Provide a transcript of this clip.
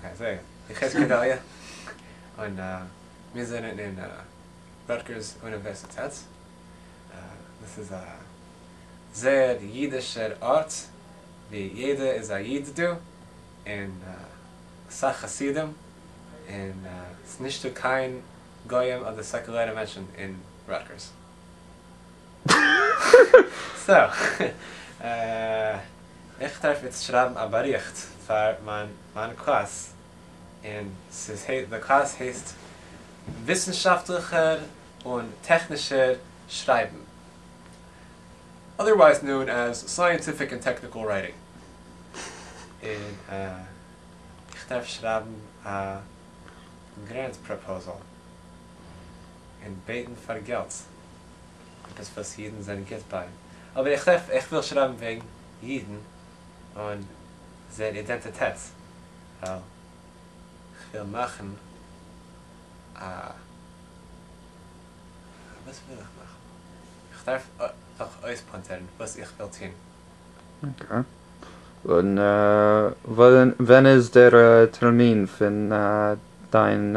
אקעי זעה איך איז גדליה און מיר זענען אין ראטגערס אוניווערסיטעט, דאס איז א זייער אידישער ארט ווי יעדער איז א איד דא און אסאך חסידים און ס'נישטא קיין גוים אדער סעקולערע מענטשן אין ראטגערס. איך דארף איצט שרייבן א באריכט פאר מיין קלאס, און די קלאס הייסט וויסנשאפטליכער און טעכנישער שרייבן, אדערווייז נאון עז סייענטיפיק און טעקניקל רייטינג, און איך דארף שרייבן א גרענט פראפאזעל. און בעטן פאר געלט עפעס וואס אידן זענען גוט ביי, אבער איך טרעף איך וויל שרייבן וועגן אידן און זייער אידענטיטעט ווייל כ'וויל מאכן א וואס וויל איך מאכן? איך דארף דאך אויספאנטערן וואס איך וויל טון. אקעי און ווען איז דער טערמין פון דיין